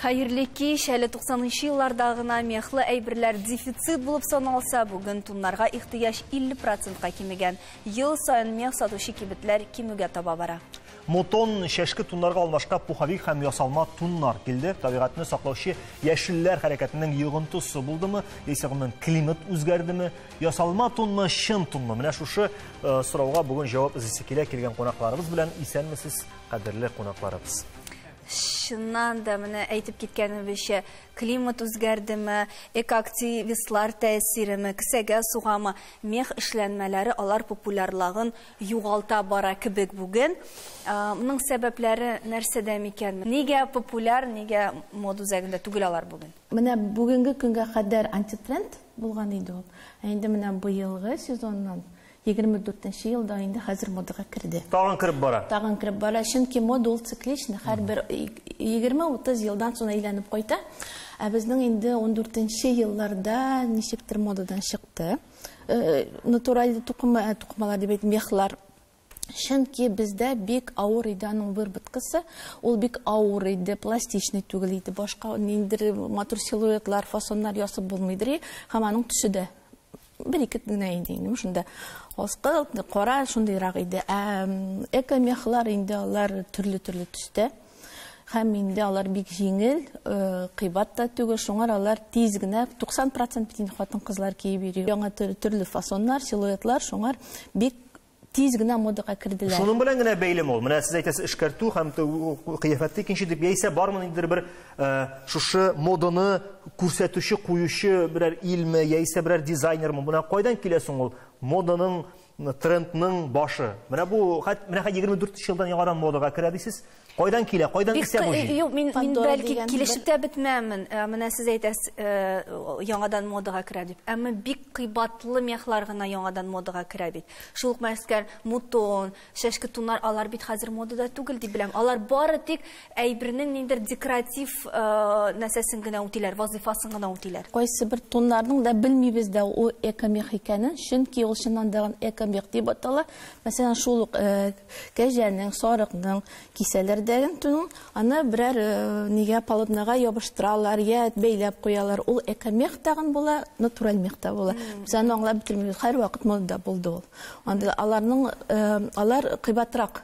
Хәерле кич, әле 90-нчы елларда гына мехлы әйберләр дефицит булып саналса, бүген туннарга ихтыяҗ 50%-ка кимегән. Ел саен мех сатучы кибетләр кимүгә таба бара. Мотон, чәшке туннарга алмашка пуховик һәм ясалма туннар килде. Табигатьне саклаучы яшелләр хәрәкәтенең йогынтысы булдымы, яисә гомумән климат үзгәрдеме? Ясалма тунмы, чын тунмы? Менә шушы э, сорауга бүген җавап эзисе килә килгән кунакларыбыз белән. Исәнмесез, кадерле кунакларыбыз чыннан да менә әйтеп киткәнебезчә климат үзгәрдеме экоактивистлар тәэсиреме кесәгә сугамы мех эшләнмәләре алар популярлагын югалта бара кебек бүген. Моның сәбәпләре нәрсәдә микән? Нигә популяр, нигә мода үзәгендә түгел алар бүген? Менә бүгенге көнгә кадәр антитренд булган иде ул. Ә инде менә быелгы сезоннан, 24 нче елда инде хәзер модага керде. Тагын кереп бара. Тагын кереп бара, чөнки мода ул цикличный, һәрбер 20-30 елдан соң әйләнеп кайта. Ә безнең инде 14 нче елларда ничектер модадан чыкты. Э, натураль тукыма э, тукымалар дип әйтим мехлар чөнки бездә бик авыр иде аның выработкасы ул бик авыр иде пластичный түгел иде башка ниндер матур силуэтлар фасоннар ясап булмыйдыр һәм аның төсе дә бер ике генә иде инде шунда аскы кара шундыйрак иде ә экомехлар инде алар төрле төрле төстә Һәм инде алар бик җиңел, кыйбат та түгел, шуңар алар тиз генә, 90 процент бит инде хатын-кызлар киеп йөри. Яңа төрле фасоннар, силуэтлар, шуңар бик тиз генә модага керделәр. Шуның белән генә бәйлеме ул? Менә сез әйтәсез, эшкәртү һәм кыяфәтте икенче дип яисә бармы ниндидер бер шушы моданы күрсәтүче, куючы берәр илме яисә берәр дизайнермы? Менә кайдан килә соң ул моданың трендның башы. Менә бу, менә 24 елдан яңадан модага керә дисез. Кайдан килә, кайдан исә бу җил? Юк, мин бәлки килешеп тә бетмәмен. Э, менә сез әйтәсез, э, яңадан модага керә дип. Әмма бик кыйбатлы мехлар гына яңадан модага керә бит. Шул ук мәскәр мутон, чәшке тунар, алар бит хәзер модада түгел дип беләм. Алар бары тик Әйбернең ниндидер декоратив нәрсәсен генә үтиләр, вазыйфасын гына үтиләр. Кайсыбер тоннарның да белмибез дә ул экомех икәнен, чөнки ул чыннан да экомех дип атала. Мәсәлән, шул ук кәҗәнең, сарыкның кисәләр дә тунын, аны берәр нигә полотнага ябыштыралар, я бәйләп куялар. Ул экомех тагын була, натураль мех та була. Без аны аңлап бетермибез. Һәрвакыт монда булды ул. Анда аларның алар кыйбатрак.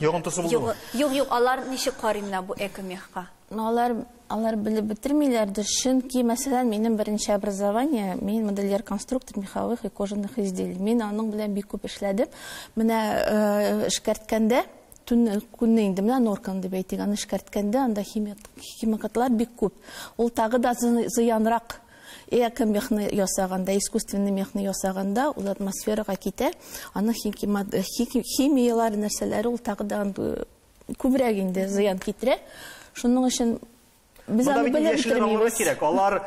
Йогынтысы булдымы? Юк, юк, алар ничек карый менә бу экомехка? Ну, алар, алар белеп бетермиләрдер, чөнки, мәсәлән, минем беренче образование, мин модельер-конструктор меховых и кожаных изделий. Мин аның белән бик күп эшләдем. Менә э, эшкәрткәндә, төн көнне инде менә норканы дип әйтик, аны эшкәрткәндә анда химикатлар бик күп. Ул тагы да зыянрак Эко мехны ясаганда, искусственный мехны ясаганда, ул атмосферага китә. Аның химияләр нәрсәләре ул тагы да күбрәк инде зыян китерә. Шуның өчен Без аны белеп бетермибез. Кирәк. Алар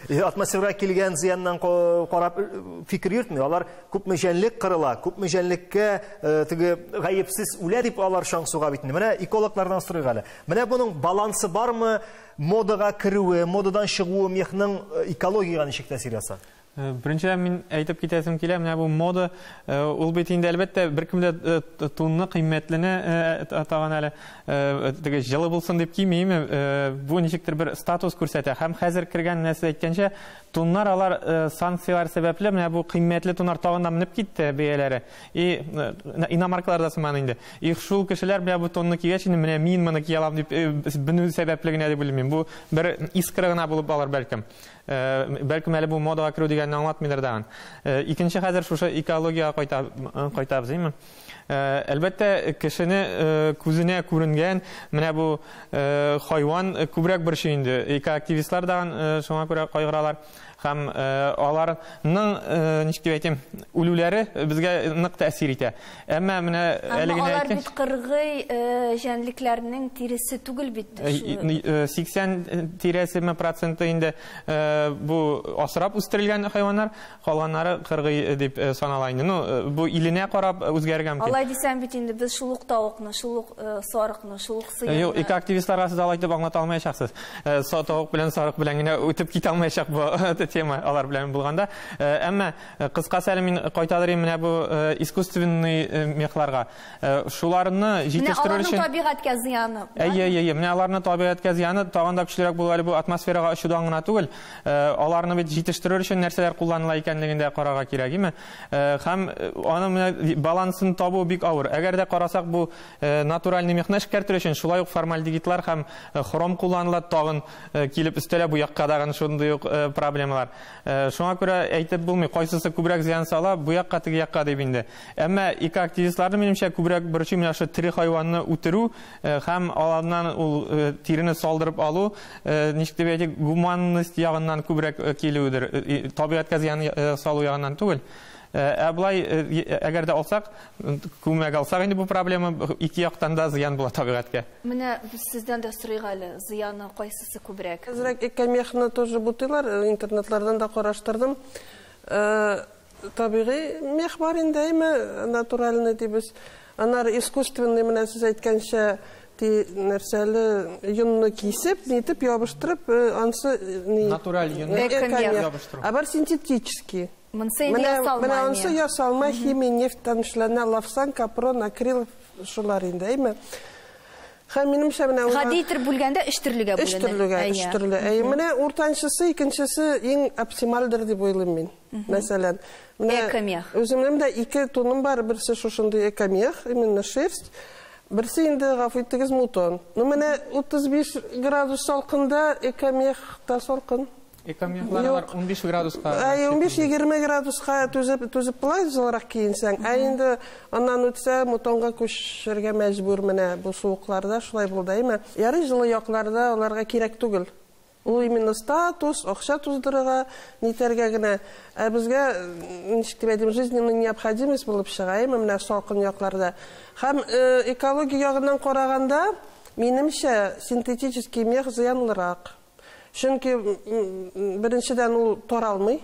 э, атмосфера килгән зыяннан карап э, фикер йөртми. Алар күпме җәнлек кырыла, күпме җәнлеккә э, теге гаепсез үлә дип алар чаң суга бит. Менә экологлардан сорыйк әле. Менә буның балансы бармы? Модага керүе, модадан чыгуы мехның экологиягә ничек тәэсир ясар? Э, Беренчедән мин әйтеп китәсем килә, менә бу мода, э, ул бит инде әлбәттә беркем дә э, тунны кыйммәтлене тагын әле теге җылы булсын дип кимим. Бу ничектер бер статус күрсәтә. Һәм хәзер кергән нәрсә әйткәнчә, туннар алар санкцияләр сәбәпле менә бу кыйммәтле туннар тагын да менеп китте бәяләре. И, иномаркалар да сыман инде. Их, шул кешеләр белән бу тонны кигәч, инде менә мин моны кия алам дип бенү сәбәпле генә дип белмим. Бу бер искра гына булып алыр бәлкем. Бәлкем әле бу модага керү дигәнне аңлатмыйдыр дагын. Икенче хәзер шушы экологиягә кайта кайтабыз, димме? Әлбәттә, кешене күзенә күренгән менә бу хайван күбрәк борчый инде. Экоактивистлар дагын шуңа күрә кайгыралар. һәм алар ның ничек дип әйтим үлүләре безгә нык тәэсир итә әмма менә әле генә алар бит кыргый җәнлекләрнең тиресе түгел бит сиксән тирәсеме проценты инде бу асрап үстерелгән хайваннар калганнары кыргый дип санала инде ну бу иленә карап үзгәрергә мөмкин алай дисәң бит инде без шул ук тавыкны шул ук сарыкны шул ук Э, юк, ике активистларга сез алай дип аңлата алмаячаксыз. Э, Сатук белән сарык белән генә үтеп китә алмаячак бу э, тема алар белән булганда. Әмма кыскасы әле мин кайталырым менә бу искусственный мехларга. Шуларны җитештерү өчен Менә табигатькә зыяны. Әйе, әйе, менә аларны табигатькә зыяны тагын да көчлерәк булу әле бу атмосферага очудан гына түгел. Аларны бит җитештерү өчен нәрсәләр кулланыла икәнлеген дә карарга кирәк, име? Һәм аны менә балансын табу бик авыр. Әгәр дә карасак бу Натураль немехны эшкәртер өчен шулай ук формальдегидлар һәм хром кулланыла, тагын килеп өстәлә бу якка дагын шундый ук проблемалар. Шуңа күрә әйтеп булмый, кайсысы күбрәк зыян сала, бу якка, теге якка дип инде. Әмма экоактивистларны, минемчә, күбрәк борчый менә шул тере хайванны үтерү һәм аларнан ул тирене салдырып алу, ничек дип әйтик, гуманность ягыннан күбрәк килүедер, табигатькә зыян салу ягыннан түгел. Ә болай, әгәр дә алсак, күмәк алсак инде бу проблема ике яктан да зыян була табигатькә. Менә без сездән дә сорыйк әле, зыяны кайсысы күбрәк? Әзрәк экомехны тоже бутыйлар, интернетлардан да караштырдым. Табигый мех бар инде, әйме, натуральный дибез. Аннары искусственный, менә сез әйткәнчә, ти нәрсәле йонны кисеп, нитеп ябыштырып, ансы ни? Натураль йонны ябыштыру. Ә бар синтетический. Монсы инде ясалма. Менә монсы ясалма, химия, нефть танышлана, лавсан, капрон, акрил шулар инде, әйме. Хәм минемчә менә улар... Гади итер бүлгәндә өч төрлегә бүленә. Өч төрлегә, өч төрле. Әй, менә уртанчысы, икенчесе иң оптимальдер дип уйлыйм мин. Мәсәлән, менә экомех. Үземнең дә ике туным бар, берсе шушындый экомех, именно шерсть. Берсе инде гафу итегез мутон. Ну менә 35 градус салкында экомех та салкын. Экомехлары бар, 15 градуска. 15-20 градуска түзеп, түзеп була, җылырак киенсәң. Ә инде аннан үтсә, мутонга күчергә мәҗбүр менә бу суыкларда, шулай булды, әйме? Ярый җылы якларда аларга кирәк түгел. Ул именно статус, акча туздырырга, нитәргә генә. Ә безгә, ничек дип әйтим, жизненная необходимость булып чыга, әйме, менә салкын якларда. Һәм экология ягыннан караганда, минемчә, синтетический мех зыянлырак. Чөнки, беренчедән, ул таралмый,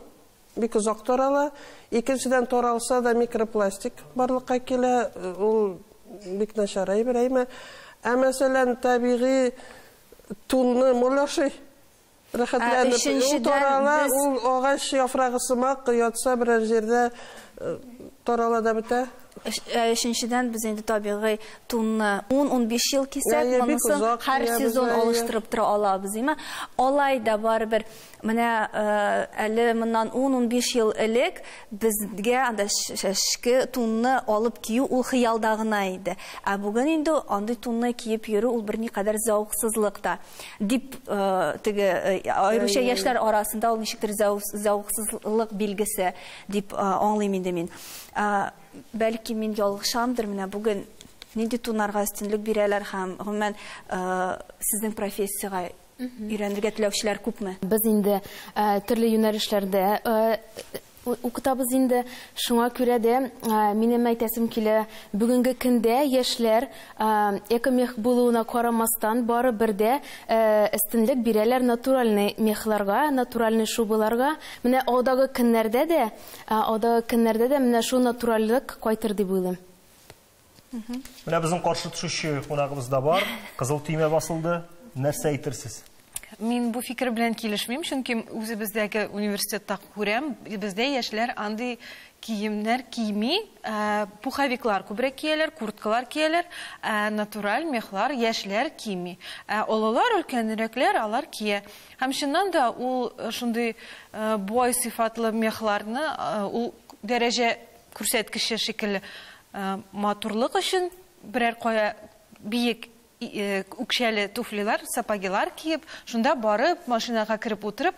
бик озак тарала. Икенчедән, таралса да, микропластик барлыкка килә, ул бик начар әйбер, әйме. Ә мәсәлән, табигый тунны мулашый, рәхәтләнеп. Ул тарала, ул агач яфрагы сымак, ятса берәр җирдә, тарала да бетә. Ә өченчедән без инде табигый тунны 10-15 ел кисәк, монысын һәр сезон алыштырып тора алабыз, димә. Алай да барыбер менә әле моннан 10-15 ел элек безгә анда шәшке тунны алып кию ул хыялда гына иде. Ә бүген инде андый тунны киеп йөрү ул берникадәр зәвыксызлык та. Дип теге аеруча яшьләр арасында ул ничектер зәвыксызлык билгесе дип аңлыйм инде мин. Бәлки мин ялгышамдыр, менә бүген нинди тунарга өстенлек бирәләр һәм гомумән сезнең профессиягә өйрәнергә теләүчеләр күпме? Без инде төрле юнәлешләрдә укытабыз инде. Шуңа күрә дә минем әйтәсем килә, бүгенге көндә яшьләр экомех булуына карамастан, барыбер дә өстенлек бирәләр натуральный мехларга, натуральный шубаларга. Менә алдагы көннәрдә дә Ә алдагы көннәрдә дә менә шул натуральлек кайтыр дип уйлыйм. Менә безнең каршы төшүче кунагыбыз да бар. Кызыл төймә басылды. Нәрсә әйтерсез? Мин бу фикер белән килешмим, чөнки үзебездәге университетта күрәм, бездә яшьләр андый киемнәр кими, э, пуховиклар күбрәк кияләр, курткалар кияләр, э, натураль мехлар яшьләр кими. Э, олылар, өлкәнрәкләр алар кия. Һәм чыннан да ул шундый бай сыйфатлы мехларны ул дәрәҗә күрсәткече шикелле матурлык өчен берәр кая биек үкчәле туфлилар, сапогилар киеп, шунда барып, машинага кереп утырып,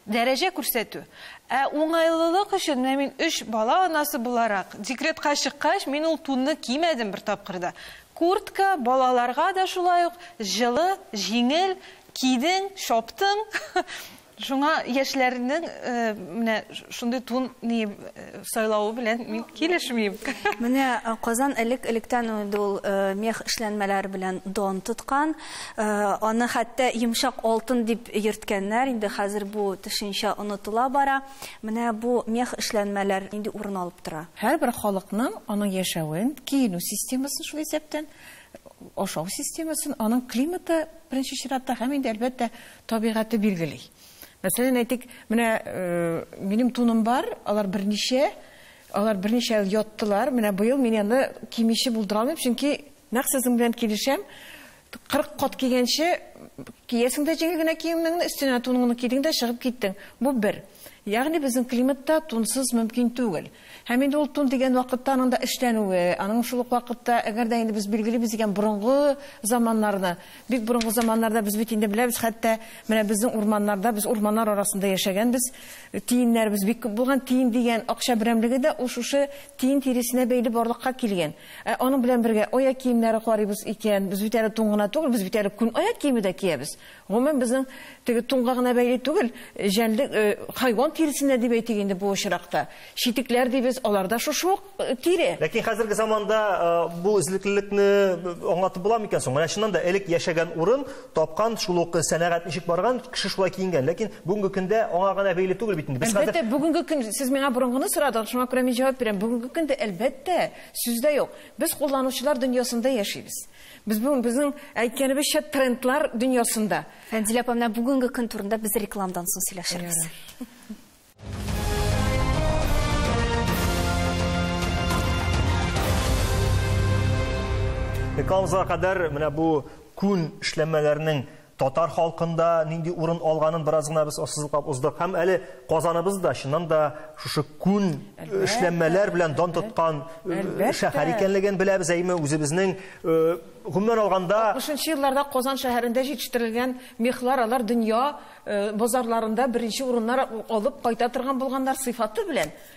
дәрәҗә күрсәтү. Ә уңайлылык өчен, менә мин өч бала анасы буларак, декретка чыккач, мин ул тунны кимәдем бер тапкыр да. Куртка, балаларга да шулай ук җылы, җиңел, Кидең, чаптың, шуңа яшьләрнең менә шундый тун сайлавы белән мин килешмим. Менә Казан элек-электән инде ул мех эшләнмәләре белән дан тоткан. Аны хәтта йомшак алтын дип йөрткәннәр, инде хәзер бу төшенчә онытыла бара. Менә бу мех эшләнмәләр нинди урын алып тора? Һәрбер халыкның аның яшәвен, киенү системасын шул исәптән, Ашау системасын аның климаты, беренче чиратта, һәм инде, әлбәттә, табигате билгели. Мәсәлән, әйтик, менә минем туным бар, алар берничә, алар берничә ел яттылар. Менә быел мин аны кимиче булдыра алмыйм, чөнки нәкъ сезнең белән килешәм. 40 кат кигәнче, киясең дә җиңел генә киемеңне, өстенә туныңны кидең дә чыгып киттең. Бу бер. Ягъни безнең климатта тунсыз мөмкин түгел. Һәм инде ул тун дигән вакытта аның да эшләнүе, аның шул ук вакытта, әгәр дә инде без билгелибез икән борынгы заманнарны, бик борынгы заманнарда без бит инде беләбез, хәтта менә безнең урманнарда, без урманнар арасында яшәгәнбез, тиеннәребез бик күп булган, тиен дигән акча берәмлеге дә ул шушы тиен тиресенә бәйле барлыкка килгән. Ә аның белән бергә аяк киемнәре карыйбыз икән, без бит әле тун гына түгел, без бит әле күн аяк киеме дә киябез. Гомумән, безнең теге тунга гына бәйле түгел, җәнлек, хайван тиресенә дип әйтик инде бу очракта. Читекләр дибез, алар да шушы ук тире. Ләкин хәзерге заманда бу эзлеклелекне аңлатып буламы икән соң? Менә чыннан да элек яшәгән урын, тапкан, шул ук сәнәгать ничек барган, кеше шулай киенгән. Ләкин бүгенге көндә аңа гына бәйле түгел бит инде. Без хәзер Әлбәттә, бүгенге көн, сез миңа борынгыны сорадыгыз, шуңа күрә мин җавап бирәм. Бүгенге көндә, әлбәттә, сүз дә юк. Без кулланучылар дөньясында яшибез. Без бүген безнең әйткәнебезчә трендлар дөньясында. Фәнзилә апа, менә бүгенге көн турында без рекламадан соң сөйләшербез. Рекламага кадәр менә бу күн эшләмәләрнең татар халкында нинди урын алганын бераз гына без ассызыклап уздык һәм әле Казаныбыз да чыннан да шушы күн эшләнмәләр белән дан тоткан э, шәһәр икәнлеген беләбез әйме үзебезнең э, гомумән алганда 60 елларда Казан шәһәрендә җитештерелгән мехлар алар дөнья э, базарларында беренче урыннар алып кайта торган булганнар сыйфаты белән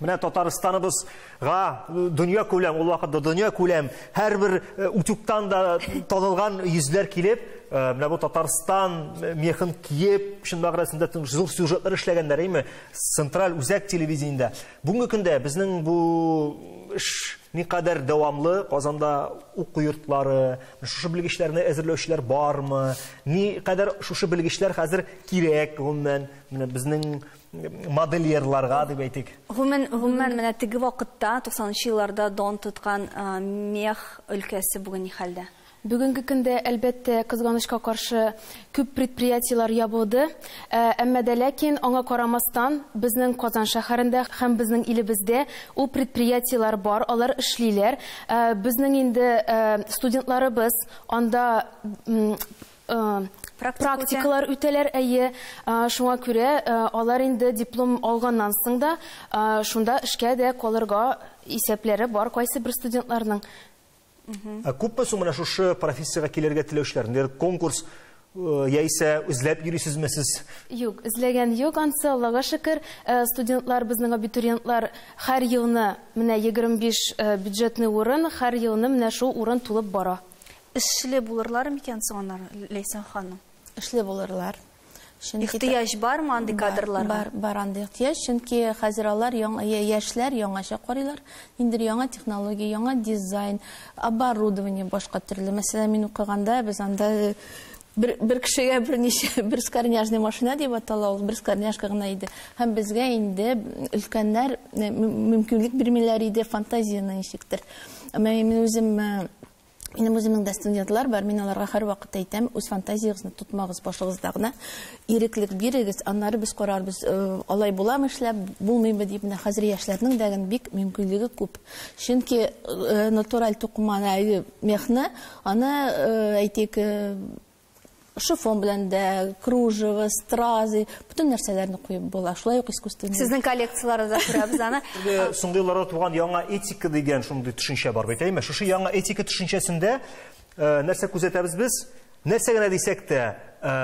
Менә Татарстаныбыз га э, дөнья күләм, ул вакытта дөнья күләм, һәр бер э, утюгтан да танылган йөзләр килеп, э, менә бу Татарстан мехын киеп, шын мәгънәсендә зур сюжетлар эшләгәннәр, әйме, централь үзәк телевидениедә. Бүгенге көндә безнең бу эш никадәр дәвамлы Казанда уку йортлары, шушы белгечләрне әзерләүчеләр бармы? Ни кадәр шушы белгечләр хәзер кирәк гомумән? Менә безнең модельерларга дип әйтик. Гомумән, гомумән менә теге вакытта 90нчы елларда дан тоткан мех өлкәсе бүген ни хәлдә? Бүгенге көндә, әлбәттә, кызганычка каршы, күп предприятиеләр ябылды. Әмма дә ләкин аңа карамастан, безнең Казан шәһәрендә һәм безнең илебездә ул предприятиеләр бар, алар эшлиләр. Безнең инде студентларыбыз анда практикалар үтәләр, әйе. Шуңа күрә алар инде диплом алганнан соң да шунда эшкә дә калырга исәпләре бар кайсы бер студентларның. Ә күпме соң менә шушы профессиягә килергә теләүчеләр? Ниндидер конкурс яисә эзләп йөрисезме сез? Юк, эзләгән юк ансы, Аллага шөкер. Студентлар, безнең абитуриентлар һәр елны менә 25 бюджетный урын, һәр елны менә шул урын тулып бара. Эшле булырлар микән соң аннары, Ләйсән ханым? Эшле булырлар. Чөнки ихтыяҗ бармы андый кадрларга? Бар, бар андый ихтыяҗ, чөнки хәзер алар яңа яшьләр яңача карыйлар. Ниндер яңа технология, яңа дизайн, оборудование башка төрле. Мәсәлән, мин укыганда без анда э, бер, бер кешегә берничә бер скорняжный машина дип атала ул, бер скорняшка гына иде. Һәм безгә инде өлкәннәр э, мөмкинлек бирмиләр иде фантазияне ничектер. Мин үзем э, Минем үземнең дә студентлар бар, мин аларга һәрвакыт әйтәм, үз фантазиягезне тотмагыз башыгызда гына, иреклек бирегез, аннары без карарбыз, э, алай буламы эшләп, булмыймы дип, менә хәзер яшьләрнең дә бик мөмкинлеге күп. Чөнки э, натураль тукыманы, мехны, аны э, әйтик, шифон белән дә, кружево, стразы, бүтән нәрсәләрне куеп була. Шулай ук искусственный. Сезнең коллекцияләре дә күрәбез аны. Соңгы елларда туган яңа этика дигән шундый төшенчә бар бит, әйме? Шушы яңа этика төшенчәсендә э, нәрсә күзәтәбез без? Нәрсә генә дисәк тә, э,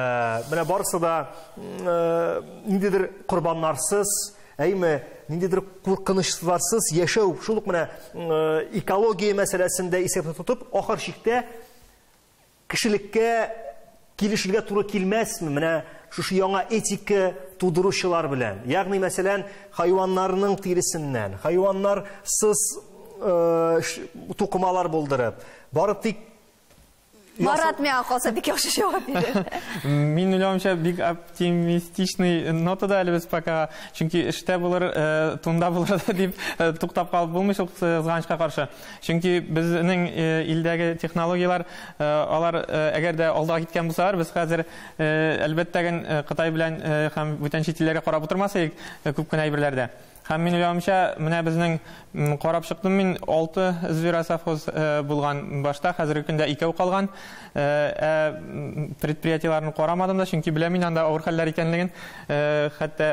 менә барысы да э, ниндидер корбаннарсыз, әйме, ниндидер куркынычларсыз яшәү, шул ук менә экология мәсьәләсендә исәптә тотып, ахыр чиктә Кешелеккә килешергә туры килмәсме менә шушы яңа этика тудыручылар белән? Ягъни, мәсәлән, хайваннарның тиресеннән, хайваннарсыз э, ш- тукымалар булдырып, бары тик Марат миңа калса бик яхшы җавап бирер. Мин уйлавымча бик оптимистичный нотада әле без пока. Чөнки эштә булыр, э, тунда булыр да дип э, туктап калып булмый шул кызганычка каршы. Чөнки безнең илдәге технологияләр, алар әгәр дә алда киткән булсалар, без хәзер, әлбәттә гел, Кытай белән һәм бүтән чит илләргә карап утырмас идек күп кенә әйберләрдә. Һәм мин уйлавымча, менә безнең, карап чыктым мин, алты зверосовхоз булган башта, хәзерге көндә икәү калган. Ә предприятиеләрне карамадым да, чөнки беләм мин анда авыр хәлләр икәнлеген. Хәтта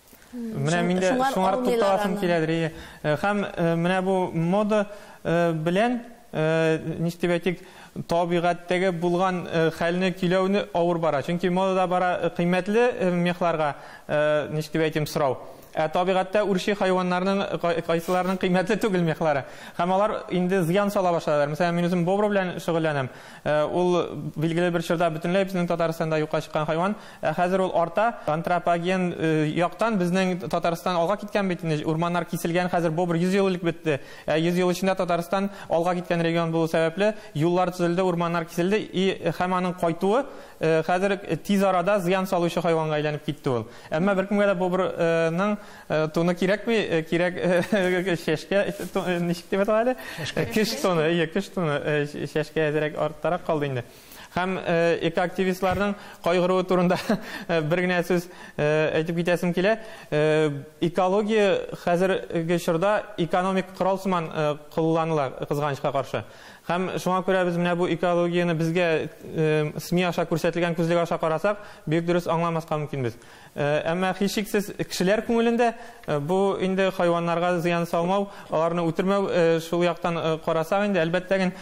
Менә мин дә шуңар тукталасым киләдер. Һәм менә бу мода белән ничтеп әйтик, табигатьтәге булган хәлне көйләүне авыр бара. Чөнки модада бара кыйммәтле мехларга ничтеп әйтим сорау. Ә табигатьтә үрчи хайваннарның кайсыларның кыйммәтле түгел мехлары. Һәм алар инде зыян сала башладылар. Мәсәлән, мин үзем бобр белән шөгыльләнәм. Ул билгеле бер чорда бөтенләй безнең Татарстанда юкка чыккан хайван. Ә хәзер ул арта. Антропоген яктан безнең Татарстан алга киткән бит инде. Урманнар киселгән, хәзер бу бер 100 ел элек бетте. Ә 100 ел эчендә Татарстан алга киткән регион булу сәбәпле, юллар төзелде, урманнар киселде и һәм аның кайтуы хәзер тиз арада зыян салучы хайванга әйләнеп китте ул. Әмма беркемгә дә бобр ның туны кирәкми, кирәк чәшкә ничек дип атала әле? Кеш туны, ие, кеш туны, чәшкә әзрәк арттарак калды инде. Һәм экоактивистларның кайгыруы турында бер генә сүз әйтеп китәсем килә. Экология хәзерге чорда экономик корал сыман кулланыла, кызганычка каршы. Һәм шуңа күрә без менә бу экологияне безгә СМИ аша күрсәтелгән күзлек аша карасак, бик дөрес аңламаска мөмкинбез. Әмма һичшиксез кешеләр күңелендә бу инде хайваннарга зыян салмау, аларны үтермәү шул яктан карасак инде, әлбәттә ген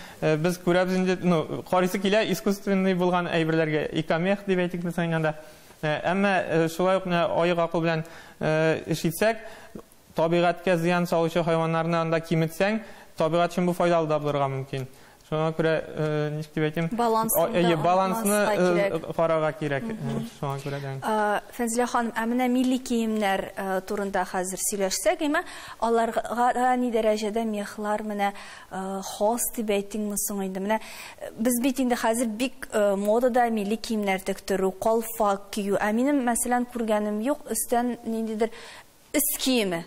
без күрәбез инде, ну, карыйсы килә искусственный булган әйберләргә, икомех дип әйтик без әйткәндә. Әмма шулай ук менә аек акыл белән эш итсәк, Табигатькә зыян салучы хайваннарны анда киметсәң, табигать өчен бу файдалы да булырга мөмкин. Шуңа күрә, ничек дип әйтим? Балансны да онытмаска кирәк. Балансны карарга кирәк. Шуңа күрә дә. Фәнзилә ханым, ә менә милли киемнәр турында хәзер сөйләшсәк, әйме? Аларга ни дәрәҗәдә мехлар менә хас дип әйтимме соң инде? Менә без бит инде хәзер бик модада милли киемнәр тектерү, калфак кию. Ә минем, мәсәлән, күргәнем юк, өстән ниндидер Өст киеме.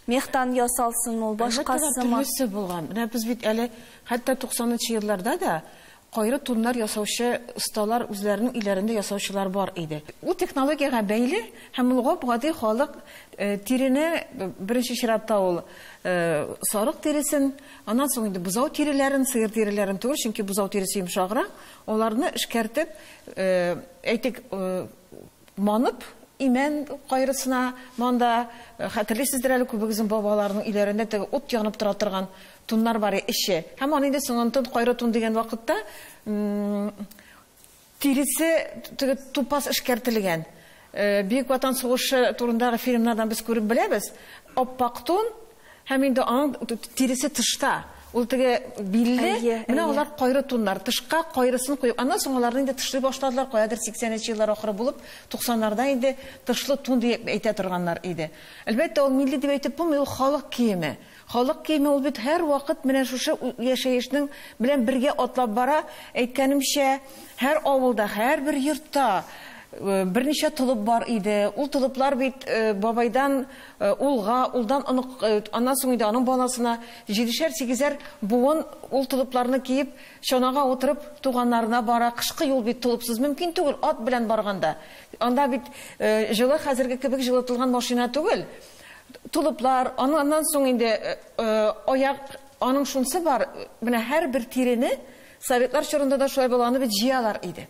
Мехтан ясалсынмы ул, башкасымы? Әлбәттә, төрлесе булган. Менә без бит әле хәтта 90 нчы елларда да кайры туннар ясаучы осталар үзләренең өйләрендә ясаучылар бар иде. Ул технологиягә бәйле һәм ул гап-гади халык тирене, беренче чиратта ул сарык тиресен, аннан соң инде бозау тиреләрен, сыер тиреләрен түгел, чөнки бозау тиресе йомшаграк, аларны эшкәртеп, әйтик, Манып, имән кайрысына монда, хәтерлисездер әле күбегезнең бабаларының өйләрендә теге ут янып тора торган туннар бар иде, эче. Һәм аны инде соңгы тун, кайры тун дигән вакытта тиресе теге тупас эшкәртелгән. Бөек Ватан сугышы турындагы фильмнардан без күреп беләбез, ап-ак тун, Һәм инде аның тиресе тышта. Ул теге билле, менә алар кайры туннар. Тышка кайрысын куеп, аннан соң аларны инде тышлый башладылар, каядыр 80 нче еллар ахыры булып, 90 нарда инде тышлы тун дип әйтә торганнар иде. Әлбәттә, ул милли дип әйтеп булмый, ул халык киеме. Халык киеме ул бит һәрвакыт менә шушы яшәешнең белән бергә атлап бара. Әйткәнемчә, һәр авылда, һәрбер йортта берничә толып бар иде. Ул толыплар бит бабайдан, Улга, улдан онык, аннан соң инде аның баласына, җидешәр-сигезәр буын ул толыпларны киеп, чанага утырып, туганнарына бара. Кышкы юл бит, толыпсыз мөмкин түгел, ат белән барганда. Анда бит җылы, хәзерге кебек җылытылган машина түгел. Толыплар, аннан соң инде аяк, аның шунсы бар, менә һәрбер тирене, советлар чорында да шулай баланы бит җыялар иде.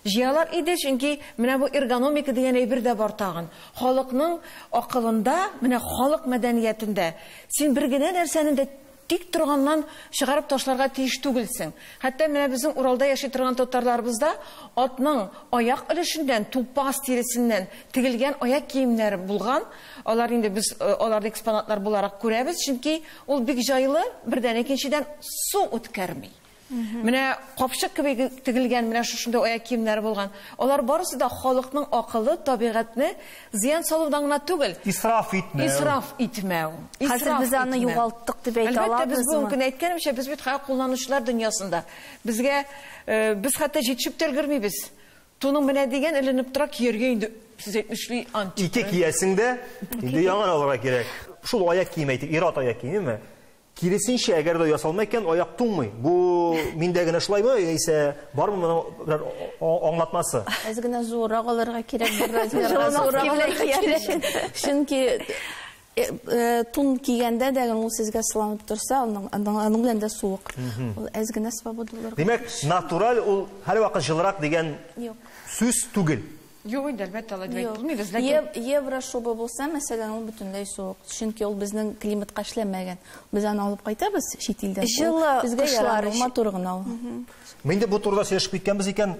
Җыялар иде, чөнки менә бу эргономика дигән әйбер дә бар тагын. Халыкның акылында, менә халык мәдәниятендә син бер генә нәрсәне дә тик торганнан чыгарып ташларга тиеш түгелсең. Хәтта менә безнең Уралда яши торган татарларыбызда атның аяк өлешеннән, тупас тиресеннән тегелгән аяк киемнәре булган. Алар инде без аларны экспонатлар буларак күрәбез, чөнки ул бик җайлы, бердән, икенчедән, су үткәрми. Менә капчык кеби тегелгән менә шушындый аяк киемнәре булган. Алар барысы да халыкның акылы, табигатьне зыян салудан гына түгел. Исраф итмәү. Исраф итмәү. Хәзер без аны югалттык дип әйтә алабызмы? Әлбәттә, без бүген әйткәнемчә, без бит хәзер кулланучылар дөньясында. Безгә без хәтта җитешеп тә өлгермибез. Туның менә дигән эленеп тора, кияргә инде сез әйтмешли ант. Ике киясең дә, инде яңа алырга кирәк. Шул аяк киеме әйтик, ир-ат аяк киеме? Киресенчә, әгәр дә ясалма икән, аяк туңмый. Бу миндә генә шулаймы, яисә бармы моның бер аңлатмасы? Әз генә зуррак алырга кирәк, бер размерга зуррак алырга кирәк. Чөнки Э, э, тун кигәндә дә ул сезгә сыланып торса, аның белән дә суык. Ул әз генә свобода булыр. Димәк, натураль ул һәрвакыт җылырак дигән сүз түгел. Юк инде, әлбәттә, алай дип әйтеп булмыйбыз, ләкин... Еврошуба булса, мәсәлән, ул бөтенләй суык. Чөнки ул безнең климатка эшләмәгән. Без аны алып кайтабыз чит илдән. Җылы кышлар өчен. Матур гына ул. Менә инде бу турыда сөйләшеп киткәнбез икән,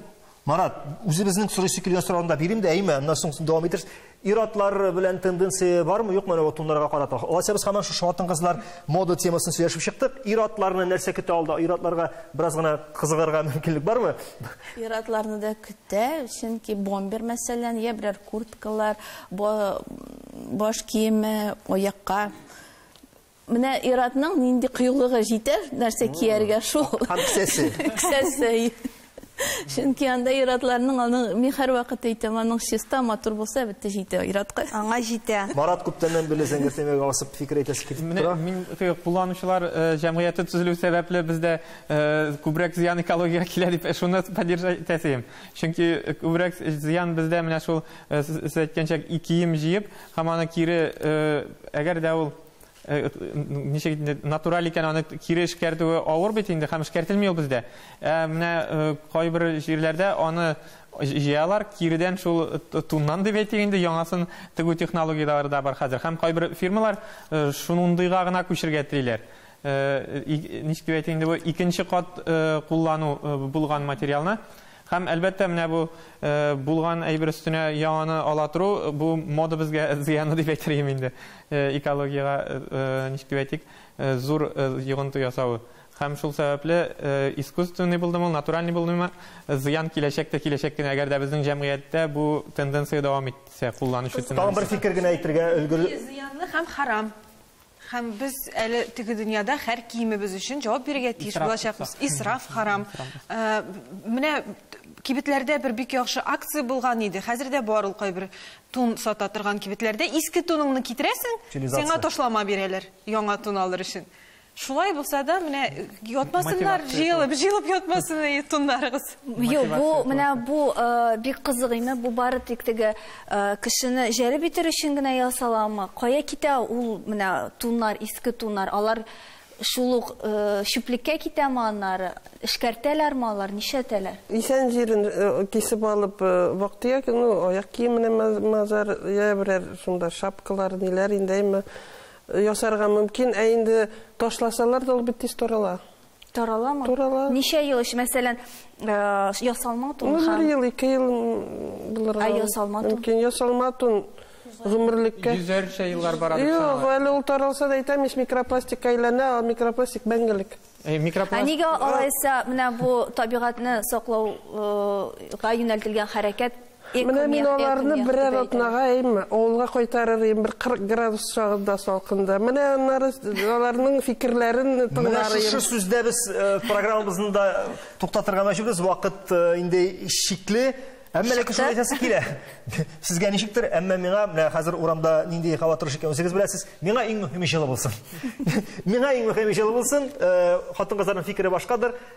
Марат, үзебезнең сорыйсы килгән сорауны да бирим дә, әйме, аннан соң дәвам итәрбез. Ир-атлар белән тенденция бармы, юкмы әле туннарга карата? Алайса без һаман шушы хатын-кызлар мода темасын сөйләшеп чыктык. Ир-атларны нәрсә көтә алда? Ир-атларга бераз гына кызыгарга мөмкинлек бармы? Ир-атларны да көтә, чөнки бомбер, мәсәлән, йә берәр курткалар, баш киеме, аякка менә ир-атның нинди кыюлыгы җитәр, нәрсә кияргә шул. Һәм кесәсе. Кесәсе. Чөнки анда ир-атларның аның мин һәрвакыт әйтәм, аның чиста, матур булса, бетте җитә ир-атка. Аңа җитә. Марат күптәннән бирле зәңгәр темага асып фикер әйтәсе килеп тора. Мин кулланучылар җәмгыяте төзелү сәбәпле бездә Күбрәк зыян экологиягә килә дип шуны поддержать итәсем. Чөнки күбрәк зыян бездә менә шул сез әйткәнчә кием җыеп, һәм аны кире әгәр дә ул ничек инде натураль икән аны кире эшкәртүе авыр бит инде һәм эшкәртелми ул бездә. Ә менә кайбер җирләрдә аны җыялар, киредән шул туннан дип әйтик инде яңасын тегү технологияләре дә бар хәзер. Һәм кайбер фирмалар шундыйга гына күчергә телиләр. Ничек дип әйтим инде бу, икенче кат куллану булган материалны. Һәм, әлбәттә, менә бу булган әйбер өстенә яңаны ала тору, бу мода безгә зыяны дип әйтер идем инде. Экологиягә, ничек дип әйтик, зур йогынты ясавы. Һәм шул сәбәпле, искусственный булдымы ул, натуральный булдымы, зыян киләчәк тә киләчәк кенә, әгәр дә безнең җәмгыятьтә бу тенденция дәвам итсә, кулланучы тенденциясе. Тагын бер фикер генә әйтергә өлгер. Зыянлы һәм харам. Һәм без әле теге дөньяда һәр киемебез өчен җавап бирергә тиеш булачакбыз. Исраф харам. Менә кибетләрдә бер бик яхшы акция булган иде. Хәзер дә бар ул кайбер тун сата торган кибетләрдә. Иске туныңны китерәсең, сиңа ташлама бирәләр, яңа тун алыр өчен. Шулай булса да, менә ятмасыннар, җыелып, җыелып ятмасын туннарыгыз. Юк, бу менә бу э, бик кызык име, бу бары тик теге э, кешене җәлеп итер өчен генә ясаламы? Кая китә ул менә туннар, иске туннар? Алар шул ук э, чүплеккә китәме аннары? Эшкәртәләрме алар, нишәтәләр? Исән җирен э, кисеп алып, э, вакытия ну, аяк киеменә мазар, я берәр шунда шапкалар, ниләр инде ясарга мөмкин, ә инде ташласалар да ул бит тиз тарала. Тараламы? Тарала. Ничә ел өчен, мәсәлән, э, ясалма тун Ну, бер ел, ике ел булырга. Ә ясалма тун? Мөмкин, ясалма тун гомерлеккә. Йөзәрчә еллар бара дип Юк, әле ул таралса да әйтәм, еш микропластикка әйләнә, ал микропластик мәңгелек. Э, Микропластик. Ә нигә алайса менә бу табигатьне саклауга э, юнәлтелгән хәрәкәт Менә мин аларны берәр атнага әйме, авылга кайтарыр идем, бер 40 градус чагында салкында. Менә аннары аларның фикерләрен тыңлар идем. Менә шушы сүздә без э, программабызны да туктатырга мәҗбүрбез. Вакыт э, инде шикле. Әмма ләкин шулай әйтәсе килә. Сезгә ничектер, әмма миңа, менә хәзер урамда нинди һава торышы икән, үзегез беләсез, миңа иң мөһиме җылы булсын. Миңа иң мөһиме җылы булсын. Э, хатын-кызларның фикере башкадыр.